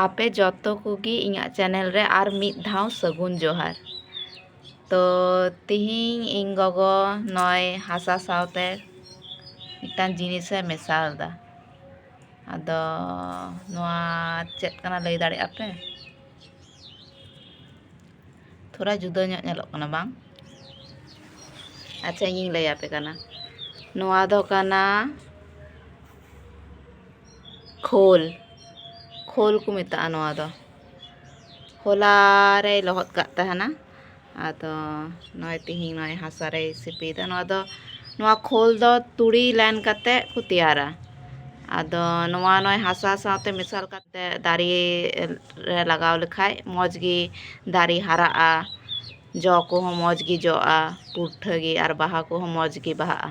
ᱟᱯᱮ ᱡᱚᱛᱚ ᱠᱚᱜᱮ ᱤᱧᱟᱹᱜ ᱪᱮᱱᱮᱞ ᱨᱮ ᱟᱨ ᱢᱤᱫ ᱫᱷᱟᱣ ᱥᱟᱹᱜᱩᱱ ᱡᱚᱦᱟᱨ ᱛᱚ ᱛᱮᱦᱮᱧ ᱤᱧ ᱜᱚᱜᱚ ᱱᱚᱜᱼᱚᱭ ᱦᱟᱥᱟ ᱥᱟᱶᱛᱮ ᱢᱤᱫᱴᱟᱱ ᱡᱤᱱᱤᱥᱮ ᱢᱮᱥᱟ ᱟᱫᱟ ᱟᱫᱚ ᱱᱚᱣᱟ ᱪᱮᱫ ᱠᱟᱱᱟ ᱞᱟᱹᱭ ᱫᱟᱲᱮᱭᱟᱜ ᱟᱯᱮ ᱛᱷᱚᱲᱟ ᱡᱩᱫᱟᱹ ᱧᱚᱜ ᱧᱮᱞᱚᱜ ᱠᱟᱱᱟ ᱵᱟᱝ ᱟᱪᱪᱷᱟ ᱤᱧᱤᱧ ᱞᱟᱹᱭ ᱟᱯᱮ ᱠᱟᱱᱟ ᱱᱚᱣᱟ ᱫᱚ ᱠᱟᱱᱟ ᱠᱷᱳᱞ ᱠᱷᱳᱞ ᱠᱚ ᱢᱮᱛᱟᱜᱼᱟ ᱱᱚᱣᱟ ᱫᱚ ᱦᱚᱞᱟ ᱨᱮᱭ ᱞᱚᱦᱚᱫ ᱠᱟᱜ ᱛᱟᱦᱮᱱᱟ ᱟᱫᱚ ᱱᱚᱜᱼᱚᱭ ᱛᱤᱦᱤᱧ ᱱᱚᱜᱼᱚᱭ ᱦᱟᱥᱟ ᱨᱮᱭ ᱥᱤᱯᱤᱭᱮᱫᱟ ᱱᱚᱣᱟ ᱫᱚ ᱱᱚᱣᱟ ᱠᱷᱳᱞ ᱫᱚ ᱛᱩᱲᱤ ᱞᱮᱱ ᱠᱟᱛᱮ ᱠᱚ ᱛᱮᱭᱟᱨᱟ ᱟᱫᱚ ᱱᱚᱣᱟ ᱱᱚᱜᱼᱚᱭ ᱦᱟᱥᱟ ᱥᱟᱶᱛᱮ ᱢᱮᱥᱟᱞ ᱠᱟᱛᱮ ᱫᱟᱨᱮ ᱨᱮ ᱞᱟᱜᱟᱣ ᱞᱮᱠᱷᱟᱡ ᱢᱚᱡᱽ ᱜᱮ ᱫᱟᱨᱮ ᱦᱟᱨᱟᱜᱼᱟ ᱡᱚ ᱠᱚᱦᱚᱸ ᱢᱚᱡᱽ ᱜᱮ ᱡᱚᱜᱼᱟ ᱯᱩᱴᱷᱟᱹ ᱜᱮ ᱟᱨ ᱵᱟᱦᱟ ᱠᱚᱦᱚᱸ ᱢᱚᱡᱽ ᱜᱮ ᱵᱟᱦᱟᱜᱼᱟ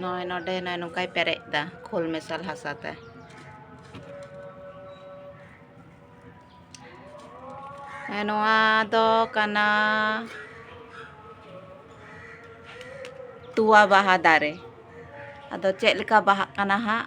ᱱᱚᱜᱼᱚᱭ ᱱᱚᱰᱮ ᱱᱚᱜᱼᱚᱭ ᱱᱚᱝᱠᱟᱭ ᱯᱮᱨᱮᱡ ᱮᱫᱟ ᱠᱷᱳᱞ ᱢᱮᱥᱟᱞ ᱦᱟᱥᱟ ᱛᱮ ᱱᱚᱣᱟ ᱫᱚ ᱠᱟᱱᱟ ᱛᱚᱣᱟ ᱵᱟᱦᱟ ᱫᱟᱨᱮ ᱟᱫᱚ ᱪᱮᱫ ᱞᱮᱠᱟ ᱵᱟᱦᱟᱜ ᱠᱟᱱᱟ ᱦᱟᱸᱜ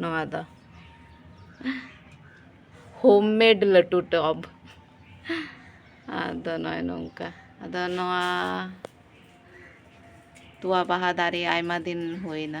ᱱᱚᱣᱟ ᱫᱚ ᱦᱳᱢ ᱢᱮᱰ ᱞᱟᱹᱴᱩ ᱴᱚᱵ ᱟᱫᱚ ᱱᱚᱜᱼᱚᱭ ᱱᱚᱝᱠᱟ ᱟᱫᱚ ᱱᱚᱣᱟ ᱛᱚᱣᱟ ᱵᱟᱦᱟ ᱫᱟᱨᱮ ᱟᱭᱢᱟ ᱫᱤᱱ ᱦᱩᱭᱱᱟ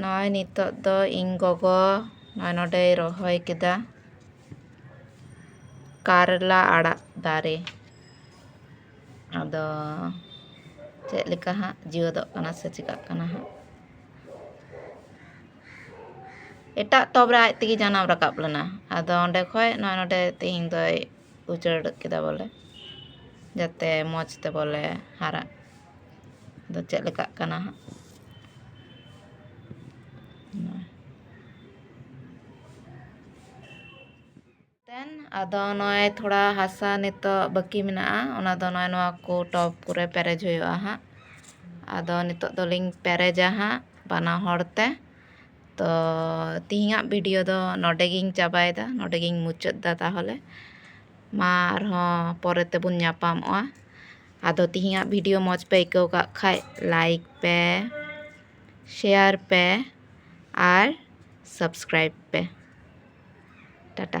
ᱱᱚᱜᱼᱚᱭ ᱱᱤᱛᱳᱜ ᱫᱚ ᱤᱧ ᱜᱚᱜᱚ ᱱᱚᱜᱼᱚᱭ ᱱᱚᱸᱰᱮᱭ ᱨᱚᱦᱚᱭ ᱠᱮᱫᱟ ᱠᱟᱨᱞᱟ ᱟᱲᱟᱜ ᱫᱟᱨᱮ ᱟᱫᱚ ᱪᱮᱫ ᱞᱮᱠᱟ ᱦᱟᱸᱜ ᱡᱮᱣᱮᱫᱚᱜ ᱠᱟᱱᱟ ᱥᱮ ᱪᱮᱠᱟᱜ ᱠᱟᱱᱟ ᱦᱟᱸᱜ ᱮᱴᱟᱜ ᱴᱚᱵ ᱨᱮ ᱟᱡ ᱛᱮᱜᱮ ᱡᱟᱱᱟᱢ ᱨᱟᱠᱟᱵ ᱞᱮᱱᱟ ᱟᱫᱚ ᱚᱸᱰᱮ ᱠᱷᱚᱱ ᱱᱚᱜᱼᱚᱭ ᱱᱚᱸᱰᱮ ᱛᱮᱦᱮᱧ ᱫᱚᱭ ᱩᱪᱟᱹᱲ ᱠᱮᱫᱟ ᱵᱚᱞᱮ ᱡᱟᱛᱮ ᱢᱚᱡᱽ ᱛᱮ ᱵᱚᱞᱮ ᱦᱟᱨᱟᱜ ᱟᱫᱚ ᱪᱮᱫ ᱞᱮᱠᱟᱜ ᱠᱟᱱᱟ ᱦᱟᱸᱜ ᱟᱫᱚ ᱱᱚᱜᱼᱚᱭ ᱛᱷᱚᱲᱟ ᱦᱟᱥᱟ ᱱᱤᱛᱚᱜ ᱵᱟᱹᱠᱤ ᱢᱮᱱᱟᱜᱼᱟ ᱚᱱᱟ ᱫᱚ ᱱᱚᱜᱼᱚᱭ ᱱᱚᱣᱟ ᱠᱚ ᱴᱚᱯ ᱠᱚᱨᱮ ᱯᱮᱨᱮᱡᱽ ᱦᱩᱭᱩᱜᱼᱟ ᱦᱟᱸᱜ ᱟᱫᱚ ᱱᱤᱛᱚᱜ ᱫᱚᱞᱤᱧ ᱯᱮᱨᱮᱡᱟ ᱦᱟᱸᱜ ᱵᱟᱱᱟ ᱦᱚᱲ ᱛᱮ ᱛᱚ ᱛᱤᱦᱤᱧᱟᱜ ᱵᱷᱤᱰᱤᱭᱳ ᱫᱚ ᱱᱚᱰᱮ ᱜᱤᱧ ᱪᱟᱵᱟᱭᱮᱫᱟ ᱱᱚᱰᱮ ᱜᱤᱧ ᱢᱩᱪᱟᱹᱫ ᱮᱫᱟ ᱛᱟᱦᱚᱞᱮ ᱢᱟ ᱟᱨᱦᱚᱸ ᱯᱚᱨᱮ ᱛᱮᱵᱚᱱ ᱧᱟᱯᱟᱢᱚᱜᱼᱟ ᱟᱫᱚ ᱛᱮᱦᱮᱧᱟᱜ ᱵᱷᱤᱰᱤᱭᱳ ᱢᱚᱡᱽ ᱯᱮ ᱟᱹᱭᱠᱟᱹᱣ ᱠᱟᱜ ᱠᱷᱟᱡ ᱞᱟᱭᱤᱠ ᱯᱮ ᱥᱮᱭᱟᱨ ᱯᱮ ᱟᱨ ᱥᱟᱵᱥᱠᱨᱟᱭᱤᱵᱽ ᱯᱮ ᱴᱟᱴᱟ